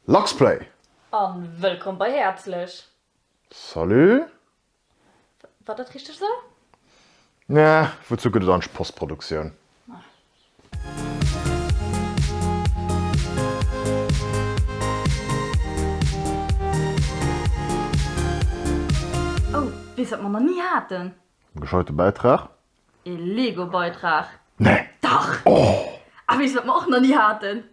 Luxplay! An wëllkomm bei Häerzlech! Salut! War dat richteg esou? Nee, wouzu gëtt et eidg Postproduktioun? Oh, weess wat mer na ni haten? En gescheite Bäitrag? E Lego-Beitrag? Nee! Dach! Oh! A weess wat mer och na ni haten?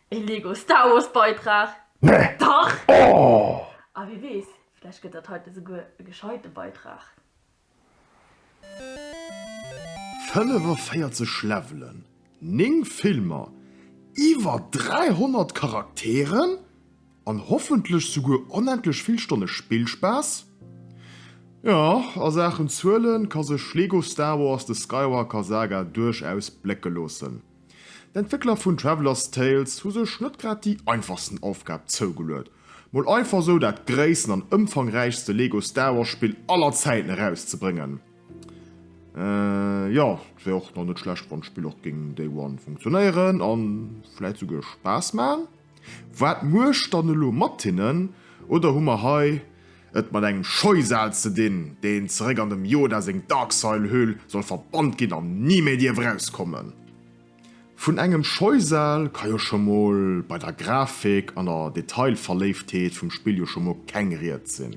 E Lego Star Wars Beitrag? Nee! Dach! Oh! A wie weess, vläicht gëtt dat heiten esouguer e gescheite Beitrag. 45 Levelen, 9 Filmer, iwwer 300 Charakteren an hoffentlech souguer onendlech vill Stonne Spillspaass? Jo, a Saachen Zuelen ka sech Lego Star Wars The Skywalker Saga duerchaus blécke loossen. D'Entwéckler vun Traveller's Tales hu sech net grad déi einfachsten Aufgab zougeluet, mol einfach esou dat gréissten an ëmfangräichste Lego Star Wars Spill aller Zäiten erauszebrëngen. Jo, et wär och nach net schlecht wann d'Spill och géing Day One funktionéieren an vläit souguer Spaass man. Waat muecht dann elo mat hinnen? Oder hu mer hei et mat engem Scheusal ze dinn, deen zeréck an dem Yoda seng Darksail-Höhl soll verbannt ginn an ni méi dierf erauskommen? Vun engem Scheusal ka jo scho mol bei der Grafik an der Detailverléiftheet vum Spill jo scho mol keng Rieds sinn.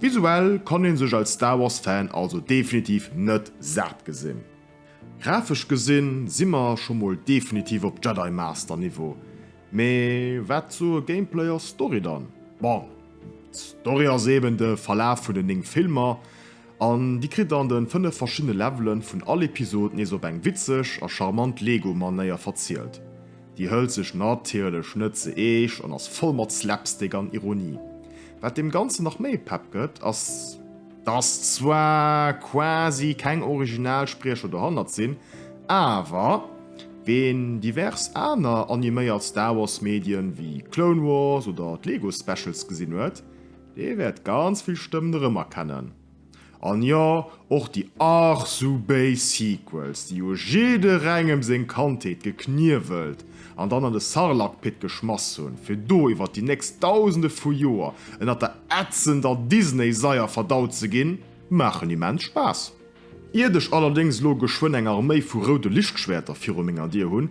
Visuell kann een sech als Star Wars Fan also definitiv net saat gesinn. Grafesch gesinn si mer scho mol definitiv op Jedi Master Niveau, mee waat soe Gameplay a Story dann? Bon, d'Story ass eben de Verlaaf vun den 9 Filmer, an di kritt an den 5 verschiddene Levelen vun all Episod nees op eng witzeg a charmant Lego Manéier verzielt. Déi hëlt sech natierlech net ze eescht an ass voll mat Slapstick an Ironie. Wat deem Ganzen nach méi Pepp gëtt, ass dass zwar quasi keng original Spriecher dohannert sinn, awer ween divers aner animéiert Star Wars Medien wéi Clone Wars oder d'Lego Specials gesinn huet, dee wäert ganz vill Stëmmen erëmerkennen. An jo, och déi ach sou béis Sequels, déi jo jidderengem seng Kandheet gekniewelt an dann an de Sarlakpit geschmass hunn, fir do iwwer déi nächst Dausende vu Joer ënnert der ätzender Disney-Saier verdaut ze ginn, maachen immens Spaass. Iert ech allerdéngs elo geschwënn eng Arméi vu roude Lichtschwäerter viru menger Dier hunn,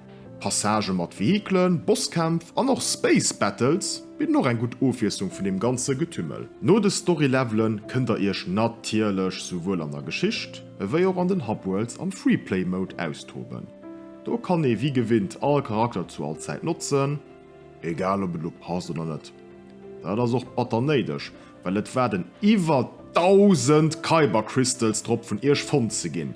Passagë mat Vehikelen, Bosskämpf an och Space Battles bidden och eng gutt Ofwiesslung vun deem ganze Getümmel. No de Story Levelen kënnt der iech natierlech souwuel an der Geschicht ewéi och an den Hub Worlds am Free Play Mode austoben. Do kann ee wéi gewinnt all Charakter zu all Zäit notzen, egal ob et elo passt oder net, dat ass och batter néideg well et waarden iwwer 1000 Kyber Crystals drop vun iech fonnt ze ginn.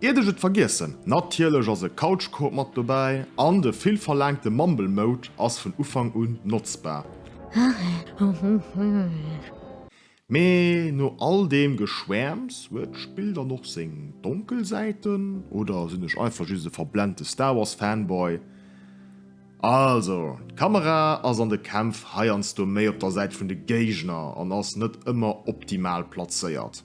Iert ech et vergiessen, natierlech ass e Couchcoop mat dobäi an de vill verlaangte Mumble Mode ass vun Ufank un notzbar. Mee no all deem Geschwäerms, huet d'Spill dann och seng donkel Säiten? Oder sinn ech einfach just e verblennte Star Wars Fanboy? Also, d'Kamera ass an de Kämpf heiansdo méi op der Säit vun de Géigner an ass net ëmmer optimal plazéiert.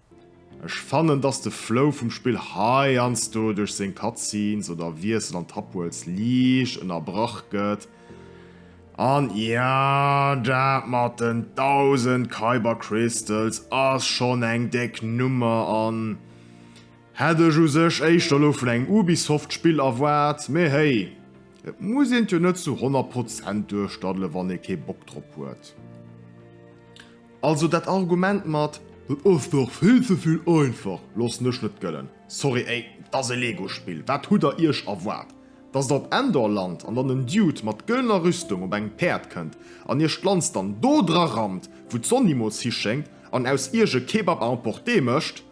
Ech fannen dass de Flow vum Spill heiansdo duerch seng Cutscenes oder Wiessel an Tapworlds liicht ënnerbrach gëtt, an jo, dat mat den 1000 Kyber Crystals ass schonn eng déck Nummer an hätt ech u sech éischter elo vun engem Ubisoft Spill erwaart, mee hey, et muss een et jo net zu 100 Prozent duerchdaddelen wann ee kee Bock drop huet. Also dat Argument mat, dat ass dach vill ze vill einfach, loossen ech net gëllen. Sorry, ey, et ass e Lego-Spill, wat hutt der iech erwaart? Dass der op Endor lant an dann en Dude mat gëllener Rüstung op engem Päerd kënnt an iech d'Lanz dann do dra rammt, wou d'Sonn nimools hischéngt, an aus iech e Kebab à emporter mécht?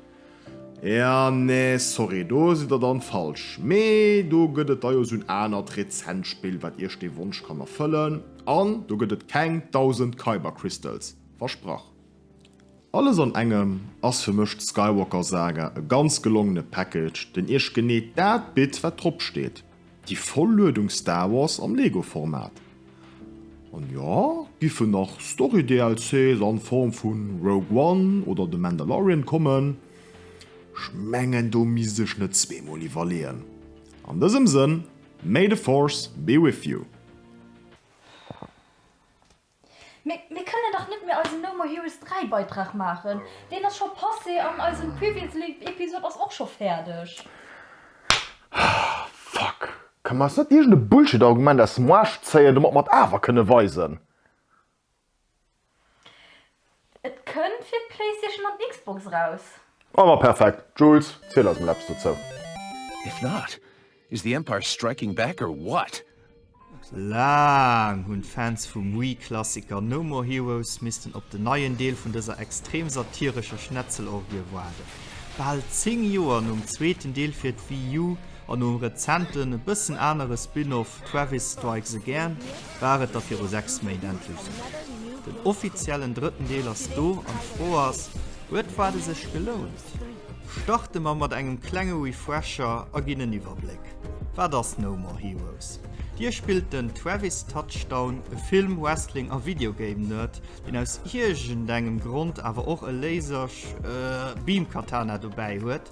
Ea nee sorry do sidd der dann falsch, mee do gëtt et da jo sou en anert rezent Spill wat iech dee Wonsch kann erfëllen an do gëtt et keng 1000 Kyber Crystals, versprach. Alles an engem ass fir mech d'Skywalker Saga e ganz gelongene Package den iech genee dat bitt wat drop steet. Déi voll Luedung Star Wars am Lego Format. An jo, giffen nach Story DLCs an Form vun Rogue One oder The Mandalorian kommen. Ech mengen do misst ech net zwee mol iwwerleeën. An dësem Sënn, May the Force be with you! Mee mir kënnen dach net méi eisen No More Heroes 3 Beitrag maachen. Deen ass scho passé an eisen Previously Episode ass och scho fäerdeg. Fuck! Ka mer eis net iergend e Bullshit Argument aus dem Aarsch zéien domat mer et awer kënne weisen? Et kënnt fir d'Playstation an d'Xbox eraus. Ah ma perfekt, Jules, ziel eis mol eppes dozou. If not, is the Empire striking back or what? Laang hunn d'Fans vum Wii-Klassiker No More Heroes missten op den neien Deel vun dëser extrem satirescher Schnetzelorgie waarden. Bal 10 Joer nom zweeten Deel fir d'Wii U an nom rezenten, e bëssen anere Spin-Off, Travis Strikes Again war et da viru 6 Méint endlech soweit. Den offiziellen drëtten Deel ass do an d'Fro ass, huet d'Waarde sech gelount? Starte mer mat engem klenge Refresher a ginn en Iwwerbléck, Wat ass No More Heroes? Dir spillt den Travis Touchdown, e Film-, Wrestling a Videogame-Nerd, deen aus iergendengem Grond awer och e Laser-, Beam-, Katana dobäi huet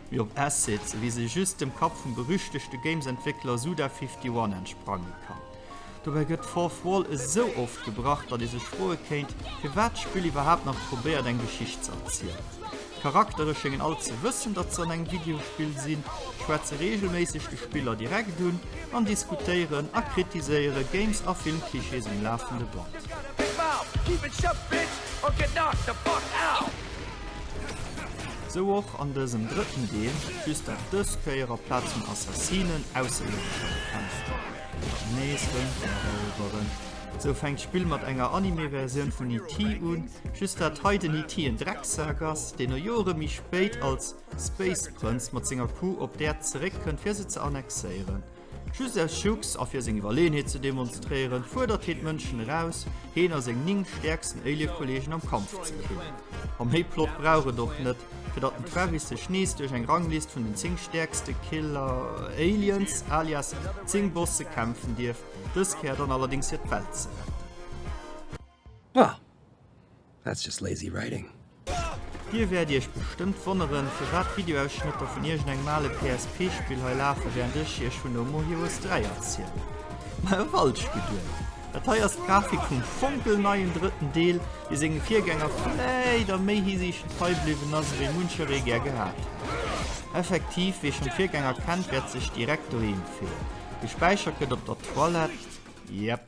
mee op Assets, wéi se just dem Kapp vum berüchtegte Games-Entwéckler Suda51 entsprange kann. Dobäi gëtt d'Fourth Wall esou oft gebrach, datt ee sech froe kéint, firwat d'Spill iwwerhaapt nach probéiert eng Geschicht ze erzielen. D'Charaktere schéngen all ze wëssen, datt se an engem Videospill sinn, schwätze reegelméisseg de Spiller direkt un an diskutéieren a kritiséiere Games a Film-Klischees um lafende Band. Sou och an dësem drëtten Deel, just dat dës Kéier a Plaz vun Assassinen Ausserierdesch bekämpft an nees Rëm erëweren. Sou fänkt d'Spill mat enger Anime-Versioun vun E.T. un, just dat hei den E.T. en Drecksak ass, deen no Jore méi spéit als Space Prënz mat senger Crew op d'Äerd zeréckkënnt fir se ze annexéieren. Just aus Jux a fir seng Iwwerleeënheet ze demonstréieren, fuerdert heen d'Mënschen eraus, heen a seng 9 stäerksten Alien-Kolleegen am Kampf ze gewinnen. A méi Plot brauch et och net, fir datt den Travis sech nees duerch eng Ranglist vun den 10 stäerkste Killer-Aliens, alias 10 Bosse kämpfen dierf, dës Kéier dann allerdéngs fir d'Welt ze retten. Bah! That's just lazy writing. Dir wäert iech bestëmmt wonneren, firwat d'Videoausschnëtter vun iergend engem ale PSP-Spill hei lafen, wärend ech iech vun No More Heroes 3 erzielen. Mä e falsch Geduecht! Dat hei ass d'Grafik vum fonkelneien drëtten Deel, dee senge Virgänger vläicht a méi Hisiichten trei bliwwen ass, ewéi muncheree gär gehat hätt. Effektiv, wee schonn d'Virgänger kennt, wäert sech direkt doheem fillen. Gespäichert gëtt op der Toilette, yep.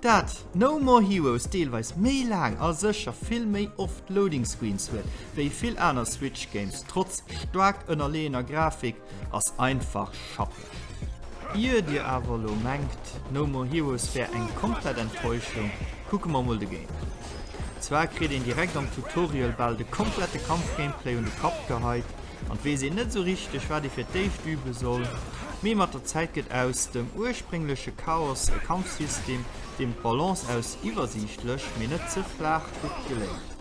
Dat No More Heroes deelweis méi laang a sécher vill méi oft Loading Screens huet wéi vill aner Switch Games trotz staark ënnerleeëner Grafik ass einfach schappeg. Ier dir awer elo mengt No More Heroes wär eng komplett Enttäuschung, kucke mer mol de Gameplay. Zwar kritt een direkt am Tutorial bal de komplette Kampf-Gameplay un de Kapp geheit, An 't weess een net esou richteg, wat ee fir d'éischt übe soll, mee mat der Zäit gëtt aus dem urspréngleche Chaos e Kampfsystem, deem d'Balance aus iwwersiichtlech, mee net ze flaach gutt geléngt.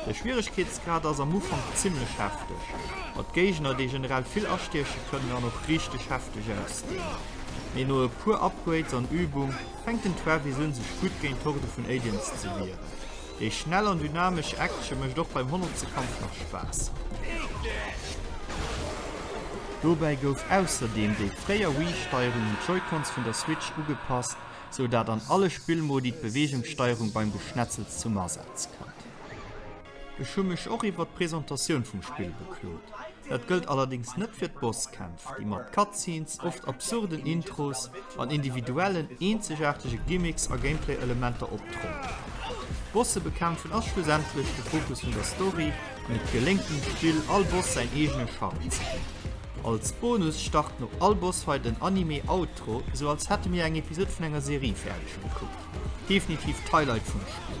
De Schwieregkeetsgrad ass am Ufank zimmlech hefteg, mat Géigner, déi generell vill astieche kënnen an och richteg hefteg ausgesinn. Mee no e puer Upgrades an Übung fänkt den Travis un, sech gutt géint d'Horde vun Aliens ze wieren. Déi schnell an dynamesch Action mécht och beim honnertste Kampf nach Spaass. Dobäi gouf ausserdeem déi fréier Wii-Steierung un d'Joy-Cons vun der Switch ugepasst, sou dat an alle Spillmodi d'Beweegungssteierung beim Geschnetzels zum Asaz kënnt. Ech hu mech och iwwert d'Presentatioun vum Spill beklot. Dat gëllt allerdéngs net fir d'Bosskämpf, déi mat Cutscenes, oft absurden Intros an individuellen, eenzegaartege Gimmicks a Gameplay-Elementer optrumpelen. D'Bosse bekämpfen ass schlussendlech de Fokus vun der Story an et geléngt dem Spill, all Boss säin eegene Charme ze ginn. Als Bonus start no all Bossfight en Anime-Outro, sou als hätte mir eng Episod vun enger Serie fäerdeg gekuckt. Definitiv d'Highlight vum Spill!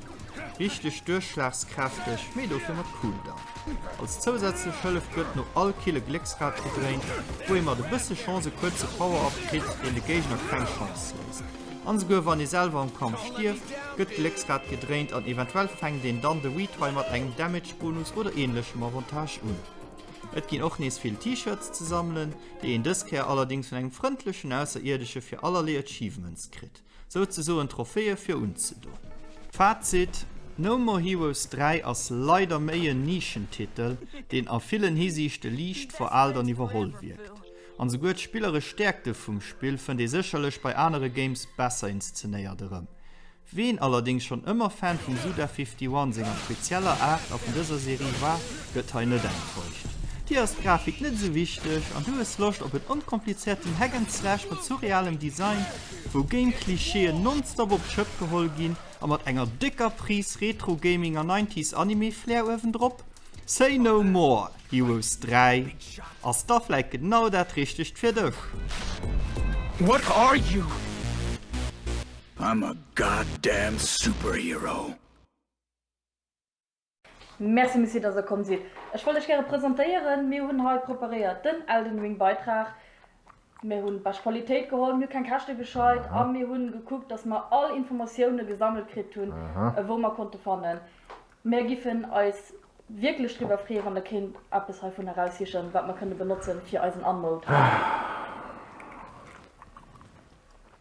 Richteg duerchschlagskräfteg, mee dofir mat Cooldown. Als zousätzlech Hëllef gëtt no all Kill e Glécksrad gedréint, wou ee mat e bësse Chance e kuerze Power-Up kritt, deen de Géigner keng Chance léisst. An esouguer wann ee selwer am Kampf stierft, gëtt d'Glécksrad gedréint an eventuell fänkt een dann de Retry mat engem Damage-Bonus oder änlechem Avantage un. Et ginn och nees vill T-Shirts ze sammelen, déi een dës Kéier allerdéngs vun engem frëndlechen Ausserierdesche fir allerlee Achievements kritt. Souzesoen Trophäe fir unzedoen. Fazit, No More Heroes 3 ass leider méi en Nischentitel, deen a villen Hisiichte liicht veraalt an iwwerholl wierkt. An souguer d'spilleresch Stäerkte vum Spill fënnt ee sécherlech bei anere Games besser inszenéiert erëm. Ween allerdéngs schonn ëmmer Fan vum Suda 51 senger spezieller Aart a vun dëser Serie war, gëtt hei net enttäuscht. Dir ass d'Grafik net esou wichteg an du hues Loscht op en onkomplizierten Hack and Slash mat surrealem Design? wou Game Klischeeën nonstop op d'Schëpp geholl ginn a mat enger décker Prise Retro Gaming a Nineties Anime Flair uewendrop. Say No More, Heroes 3 ass da vläit genau dat richtegt fir dech. What are you? I'm a goddamn superhero! Merci Messier dass der komm sidd. Ech wollt lech gäre presentéieren, mir hunn hei preparéiert den Elden Ring Beitrag. Mir hunn bescht Qualitéit geholl, mir hu keng Käschte gescheit a mir hunn gekuckt dass mer all Informatioune gesammelt kritt hunn wou mer konnte fannen. Mär giffen eis wierklech driwwer freeë wann der kéint eppes heivun eraussichen wat mer kënne benotzen fir eisen Unmode.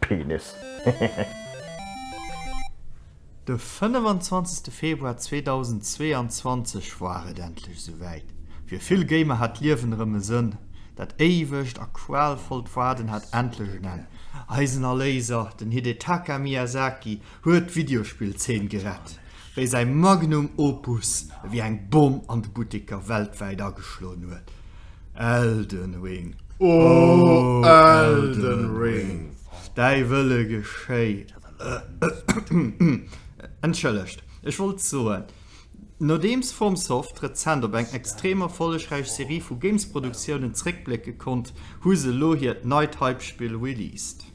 Penis. De 25 Februar 2022 war et endlech esouwäit. Fir vill Gamer hat d'Liewen erëm e Sënn. Dat éiwegt a qualvollt Waarden hat endlech en Enn. Eisen Erléiser, den Hidetaka Miyazaki, huet d'Videospill-Zeen gerett. wéi säi Magnum Opus ewéi eng Bomm an de Butteker weltwäit ageschloen huet, Elden Ring, oh Elden Ring, däi Wëlle geschéit. Entschëllegt, ech wollt soen, Nodeems FromSoft rezent op eng extrem erfollegräich Serie vu Games-Produktiounen zeréckblécke konnt, hu se elo hiert neit Hype-Spill released.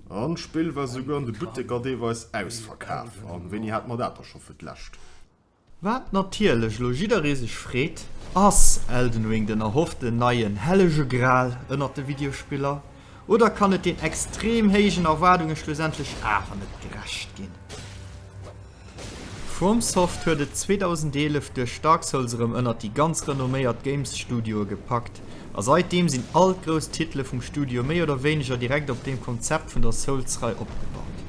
An d'Spill war souguer an de Butteker deelweis ausverkaf. An wéini hate mer dat da scho fir d'lescht? Wat natierlech elo jidderee sech freet, Ass Elden Ring den erhofften neien hellege Gral ënnert de Videospiller? Oder kann et den extrem héijen Erwaardunge schlussendlech awer net gerecht ginn? FromSoft huet et 2011 duerch Dark Souls erëm ënnert déi ganz renomméiert Games-Studioe gepackt, a säitdeem sinn all d'grouss Titele vum Studio méi oder wéineger direkt op deem Konzept vun der Souls-Rei opgebaut.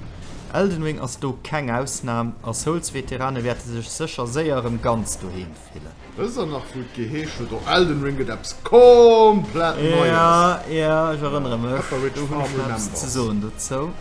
Elden Ring ass do keng Ausnam, a Souls-Veterane wäerte sech sécher séier erëm ganz doheem fillen. Respekt fillen. Wëss der nach wou et geheesch huet o Elden Ring gëtt eppes komplett neies. Ja, ja ech erënnere mech, do hunn ech nach eppes ze soen dozou.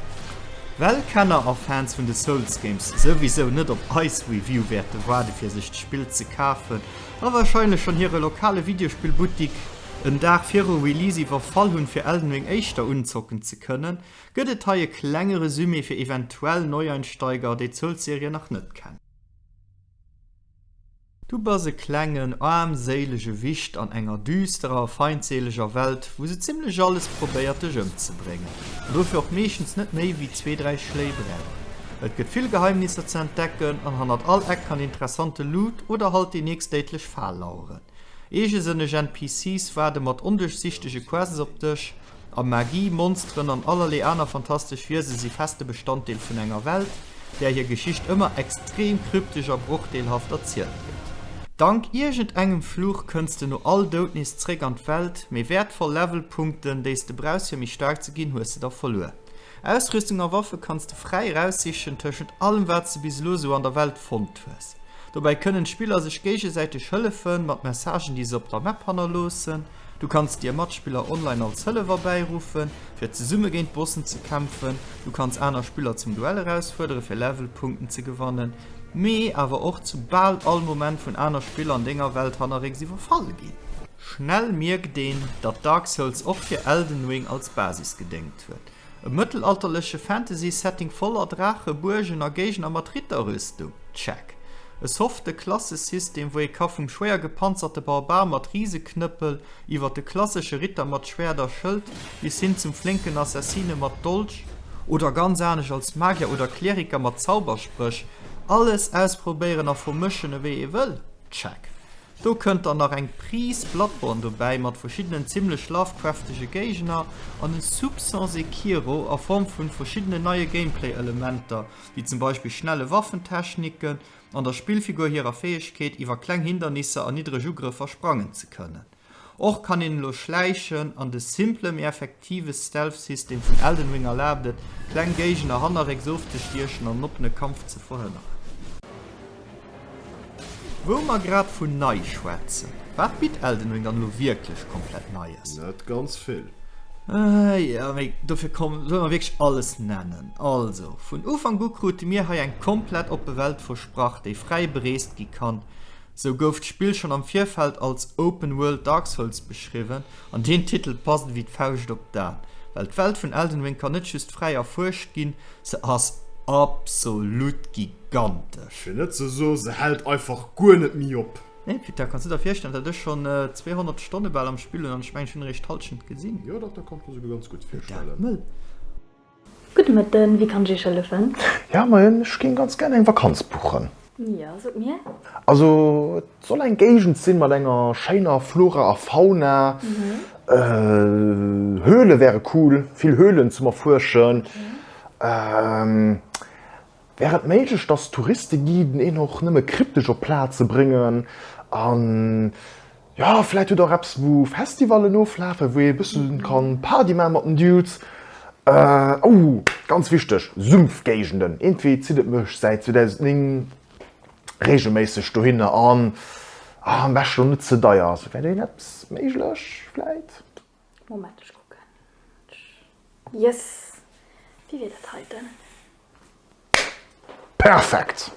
Well Kenner a Fans vun de Souls Games souwisou net op eis Review wäerte waarde fir sech d'Spill ze kafen, a warscheinlech schonn hire lokale Videospillbuttik en Dag viru Release iwwerfall hunn fir Elden Ring éischter unzocken ze kënnen, gëtt et hei e klenge Resumé fir eventuell Neueinsteiger déi d'Souls Serie nach net kennen. Du bass e klengen, aarmséilege Wicht an enger düsterer, feindséileger Welt, wou se zimmlech alles probéiert, dech ëmzebréngen, an dofir och meeschtens net méi wéi zwee, dräi Schléi brauch. Et gëtt vill Geheimnisser ze entdecken, an hannert all Eck kann interessante Loot oder halt déi nächst déidlech Fal laueren. Eegesënneg NPCs waarde mat onduerchsichtege Quests op dech. A Magie, Monsteren an allerlee aner fantastesch Wiese si feste Bestanddeel vun enger Welt, där hir Geschicht ëmmer extrem kryptesch a brochdeelhaft erzielt gëtt. Dank iergend engem Fluch kënns de no all Doud nees zréck an d'Welt, mee wäertvoll Levelpunkten, déi s de brauchs fir méi staark ze ginn, hues de da verluer. Ausrüstung a Waffe kanns de fräi eraussichen tëschent allem wat s de bis elo sou an der Welt fonnt hues. Dobäi kënnen d'Spiller sech géigesäiteg hëllefen, mat Messagen déi se op der Map hannerloossen. Du kanns dir Matspiller online als Hëllef erbäiruffen, fir zesumme géint Bossen ze kämpfen. Du kanns aner Spiller zum Duell erausfuerderen, fir Levelpunkten ze gewannen, mee awer och zu bal all Moment vun aner Spiller an denger Welt hannerrécks iwwerfall ginn. Schnell mierkt een, datt Dark Souls och fir Elden Ring als Basis gedéngt huet. E mëttelalterleche Fantasy-Setting voller Draache, Buergen a Géigner mat Ritterrüstung? Check. E softe Klassesystem, wou ee ka vum schwéier gepanzerte Barbar mat Riseknëppel, iwwer de klassesche Ritter mat Schwäert a Schëld bis hin zum flénken Assassine mat Dolch, oder ganz anescht als Magier oder Kleriker mat Zauberspréch, alles ausprobéieren a vermëschen, ewéi ee wëll? Check. Do kënnt dann nach eng Prise Bloodborne dobäi mat verschiddenen zimmlech lovecraftege Géigner an e Soupçon Sekiro a Form vun verschiddenen neie Gameplay-Elementer, wéi zum Beispill schnelle Waffentechniken an der Spillfigur hirer Fäegkeet, iwwer kleng Hindernisser an niddreg Ugrëffer sprangen ze kënnen. Och kann een elo schläichen an de simple mee. Aktives Stealth System vun Elden Ring erlaabt et, kleng Géigner hannerrécks ofzestiechen an en oppene Kampf ze verhënneren. Wou mer grad vun nei schwätzen, wat bitt Elden Ring dann elo wierklech komplett Neies? Net ganz vill. Jo, mee dofir komm, solle mer wierklech alles nennen. Also, vun Ufank u krute mir hei eng komplett oppe Welt versprach, déi fräi bereest gi kann. Sou gouf d'Spill schonn am Virfeld als Open World Dark Souls beschriwwen, An deen Titel passt ewéi d'Fauscht op d'A, well d'Welt vun Elden Ring kann net just fräi erfuerscht ginn, se ass absolut gigantesch! Fir net ze soen, se hält einfach guer net méi op! Nee, Peter, kanns du der virstellen, dat ech schonn 200 Stonne bal am Spill hunn, an ech mengen, ech hunn eréischt d'Hallschent gesinn? Jo, dach, dat kann ech mer souguer ganz gutt virstellen! Mee dat mëll! Gudde Mëtten, wéi kann ech Iech hëllefen? Ja moien, ech géing ganz gär eng Vakanz buchen. Jo, sot mir. Also et soll eng Géigend sinn mat enger schéiner Flora a Fauna. Höhle wäre cool, vill Höhlen zum erfuerschen. Wär et méiglech dass d'Touristeguiden een och nëmme kryptesch op Plaze bréngen an. Jo, vläit hutt der och eppes wou Festivallen oflafen, wou ee bëssen kann Party maachen mat den Dudes. Oh, ganz wichteg, Sumpfgéigenden. Iergendwéi zitt et mech säit 2009 regelméisseg dohinner an am beschten och net ze deier ass. Wär do iergendäppes méiglech vläit? Moment, ech kucken. Yes! Wéi wier dat heiten? Perfekt!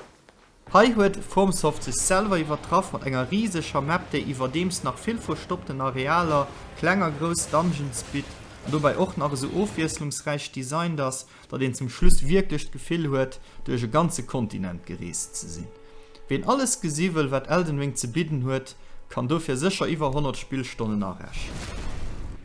Hei huet FromSoft sech selwer iwwertraff mat enger rieseger Map déi iwwerdeems nach vill verstoppten Arealer, kleng a grouss Dungeons bitt an dobäi och nach esou ofwiesslungsräich designt ass datt een zum Schluss wierklech d'Gefill huet, duerch e ganze Kontinent gereest ze sinn. Ween alles gesi wëll, wat Elden Ring ze bidden huet, kann dofir sécher iwwer 100 Spillstonnen arechnen.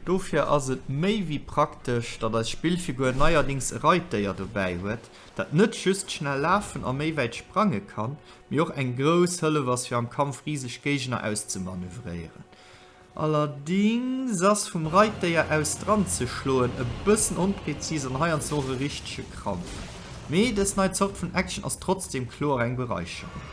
Dofir ass et méi wéi praktesch, datt eist Spill virguer neierdings e Reitdéier dobäi huet, dat net just schnell lafen a méi wäit sprange kann, mee och eng grouss Hëllef ass, fir am Kampf riseg Géigner auszemanövréieren. Allerdings ass vum Reitdéier aus dran ze schloen e bëssen onpräzis an heiansdo och e richtege Krampf. Mee dës nei Zort vun Action ass trotzdem kloer eng Bereicherung.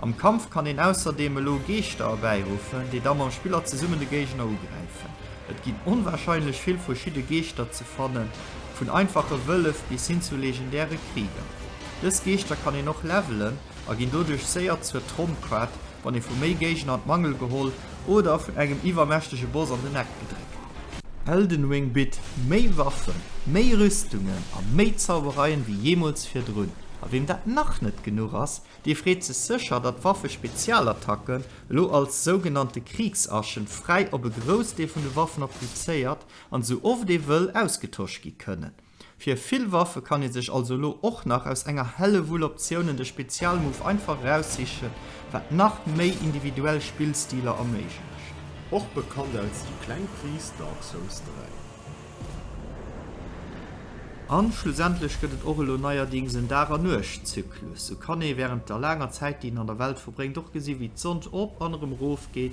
Am Kampf kann een ausserdeem elo Geeschter erbäiruffen, déi da mam Spiller zesummen de Géigner ugräifen. Et ginn onwahrscheinlech vill verschidde Geeschter ze fannen, vun einfache Wëllef bis hin zu legendäre Krieger. Dës Geeschter kann een och levelen a ginn doduerch séier zur Tromkaart, wann ee vu méi Géigner an d'Mangel geholl oder vun engem iwwermächtege Boss an den Eck gedréckt gëtt. Elden Ring bitt méi Waffen, méi Rüstungen a méi Zaubereien wéi jeemools virdrun. A weem dat nach net genuch ass, dee freet sech sécher, datt d'Waffe-Spezialattacken elo als sougenannte Kriegsaschen fräi op e Groussdeel vun de Waffen applizéiert an esou oft ee wëll ausgetosch gi kënnen. Fir vill Waffe kann ee sech also elo och nach aus enger Hellewull Optiounen de Spezialmove einfach eraussichen, wat nach méi individuell Spillstiler erméiglecht. Och bekannt als déi kleng Pris, Dark Souls 3. A schlussendlech gëtt et och elo neierdings en Dag a Nuecht Zyklus. Sou kann ee wärend der laanger Zäit, déi een an der Welt verbréngt, och gesi wéi d'Sonn op an erëm erofgeet,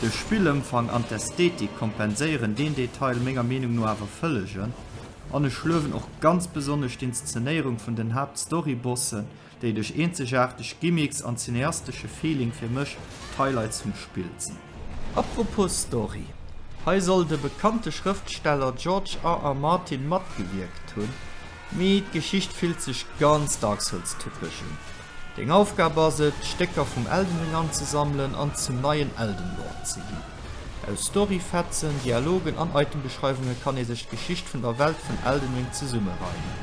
De Spillëmfang an d'Ästhetik kompenséieren deen Detail menger Meenung no awer vëllegen, an ech luewen och ganz besonnesch d'Inszenéierung vun den Haapt-Story-Bossen, déi duerch eenzegaarteg Gimmicks an cineastesche Feeling fir mech d'Highlights vum Spill sinn. Apropos Story, hei soll de bekannte Schrëftsteller George R. R. Martin matgewierkt hunn. Mee d'Geschicht fillt sech ganz Dark Souls-typesch un. Deng Aufgab ass et, d'Stécker vum Elden Ring anzesammelen an zum neien Elden Lord ze ginn. Aus Story-Fetzen, Dialogen an Item-Beschreiwunge kann ee sech d'Geschicht vun der Welt vun Elden Ring zesummereimen.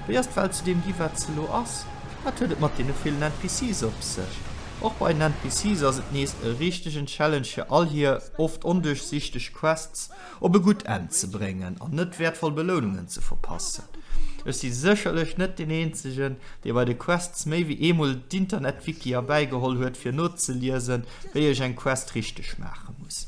Wéi ass d'Welt zu deem gi wat se elo ass? Wat huet et mat deene villen NPCs op sech? Och bei den NPCs ass et nees e richtegen Challenge fir all hir oft onduerchsichteg Quests, op e gutt Enn ze bréngen an net wäertvoll Belounungen ze verpassen. Ech si sécherlech net deen eenzegen, dee bei de Quests méi wéi eemol d'Internetwiki erbäigeholl huet fir nozeliesen, wéi ech eng Quest richteg maache muss.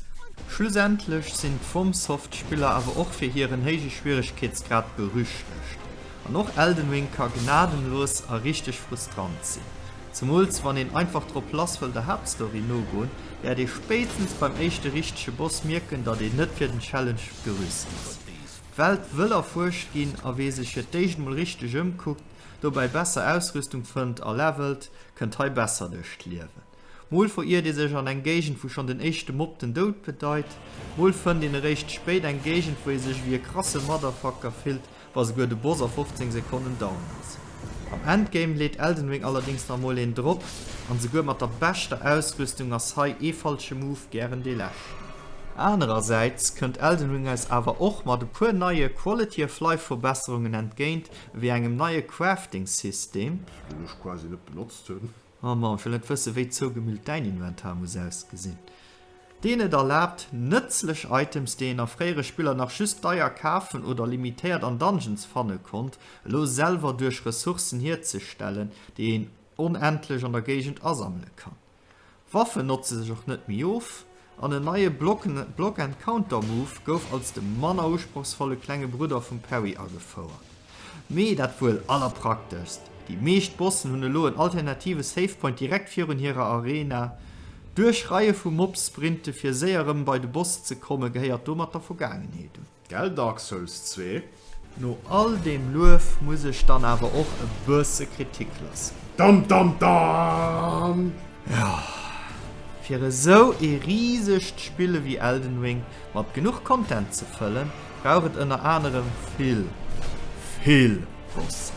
Schlussendlech sinn d'FromSoft-Spiller awer och fir hiren héije Schwieregkeetsgrad berüchtegt, an och Elden Ring ka gnadenlos a richteg frustrant sinn. Zemools wann een einfach drop lass wëll der Haaptstory nogoen, wäert ee spéitstens beim éischte richtege Boss mierken, datt een net fir den Challenge gerüst ass. D'Welt wëll erfuerscht ginn, a wee sech fir d'éischt mol richteg ëmkuckt, dobäi besser Ausrüstung fënnt a levelt, kënnt hei besser duerch d'Liewen. Mol veriert ee sech an eng Géigend, wou schonn den éischte Mob den Doud bedeit, mol fënnt een eréischt spéit eng Géigend, wou ee sech ewéi e krasse Motherfucker fillt, wa souguer de Boss a 15 Sekonnen down ass. Am Endgame leet Elden Ring allerdéngs nach emol een drop, an souguer mat der beschter Ausrüstung ass hei ee falsche Move gären dee leschten. Anerersäits kënnt Elden Ring eis awer och mat e puer neie Quality of Life Verbesserungen entgéint, ewéi engem neie Crafting System, deen ech quasi net benotzt hunn. Oh Mann, ech wëll net wëssen, wéi zougemüllt däin Inventar muss ausgesinn, deen et erlaabt, nëtzlech Items, déi een a fréiere Spiller nach just deier kafen oder limitéiert an Dungeons fanne konnt, elo selwer duerch Ressourcen hierzestellen, déi een onendlech an der Géigend asammele kann. Waffen notze sech och net méi of, An en neie Block and Counter Move gouf als de manner usprochsvolle klenge Brudder vum Parry agefouert. Mee dat wuel allerprakteschst, déi meescht Bossen hunn elo en alternative Save Point direkt virun hirer Arena. D'Duerchreie vu Mobs-Sprinte fir séier erëm bei de Boss ze komme gehéiert domat der Vergaangenheet un. Gell Dark Souls zwee? No all deem Luef muss ech dann awer och e bësse Kritik loossen. Dam dam dam! Jo, fir esou ee risegt Spill ewéi Elden Ring mat genuch Content ze fëllen, brauch et ënner anerem vill, vill Bossen.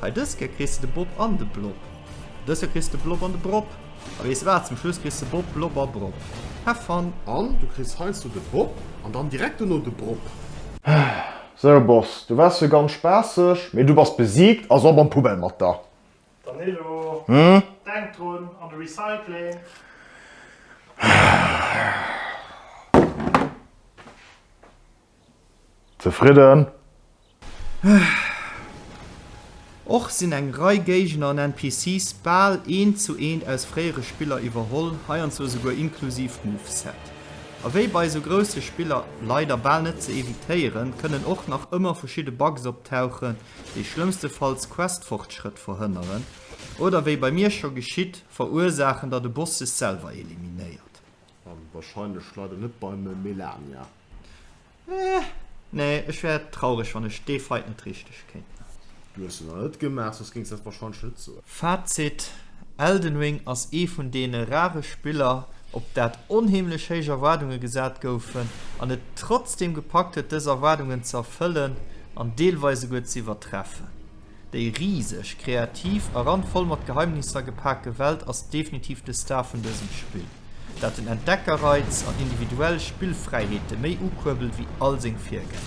Hei dës Kéier kriss de de Bob an de Blob. Dës Kéier kriss de Blob an de Brob. A weess wat, zum Schluss kriss de Bob, Blob a Brob. Have fun! An du kriss heiansdo de Bob an dann direkt dono de Brob. Sou Boss, du waars jo ganz spaasseg, mee du bass besiegt, also ab an d'Poubelle mat der! Danilo, denk drun, an de Recycling! Zefridden? Och sinn eng Rei Géigner an NPCs bal eent zu eent aus fréiere Spiller iwwerholl, heiansdo esouguer inklusiv d'Moveset. A wéi bei esou grousse Spiller leider bal net ze evitéieren, kënnen och nach ëmmer verschidde Bugs optauchen, déi schlëmmstefalls Questfortschrëtt verhënneren oder, wéi bei mir scho geschitt, verursaachen, datt e Boss sech selwer eliminéiert. An warscheinlech leider net beim Melania. Eh, nee, ech wär traureg, wann ech dee Fight net richteg kéint man. Du hues se nach net gemaach, soss géings dat wahrscheinlech net soen. Fazit, Elden Ring ass ee vun deene rare Spiller, op dat onheemlech héich Erwaardunge gesat goufen an et trotzdeem gepackt huet, dës Erwaardungen ze erfëllen an deelweis esouguer ze iwwertreffen. Déi riseg, kreativ a randvoll mat Geheimnisser gepake Welt ass definitiv de Star vun dësem Spill, dat den Entdeckerreiz an individuell Spillfräiheete méi ukuerbelt wéi all seng Virgänger.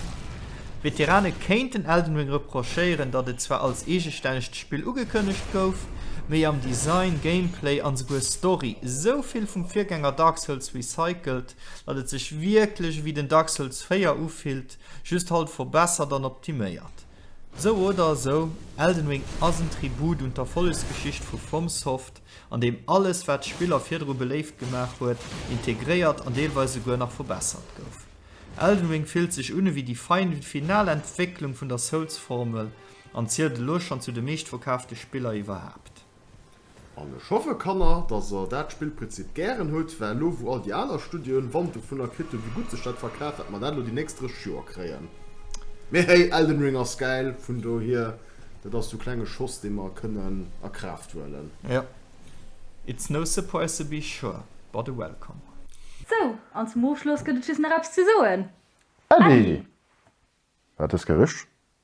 Veterane kéinten Elden Ring reprochéieren, datt et zwar als eegestännegt Spill ugekënnegt gouf, mee am Design, Gameplay an esouguer Story esou vill vum Virgänger Dark Souls recycelt, datt et sech wierklech ewéi den Dark Souls 4 ufillt, just halt verbessert an optiméiert. Sou oder esou, Elden Ring ass en Tribut un d'Erfollegsgeschicht vu FromSoft, an deem alles, wat d'Spiller virdru beléift gemaach huet, integréiert an deelweis esouguer nach verbessert gouf. Elden Ring fillt sech un ewéi déi final Entwécklung vun der Souls-Formel an zielt elo schonn zu de meeschtverkaafte Spiller iwwerhaapt. An ech hoffe, Kanner, dass der dat Spillprinzip gären hutt, well elo, wou all déi aner Studioen Wand dovunner kritt hunn, wéi gutt sech dat verkaaft, wat mer dat elo déi nächst 30 Joer kréien. Mee hey, Elden Ring ass gäil, vun dohier, dat ass esou klenge Schoss, dee mer kënnen a Kraaft huelen. Jo. It's no surprise to be sure, but a welcome one. Sou, an zum Ofschloss gëtt et just nach eppes ze soen. Äddi! Wat hues gerich?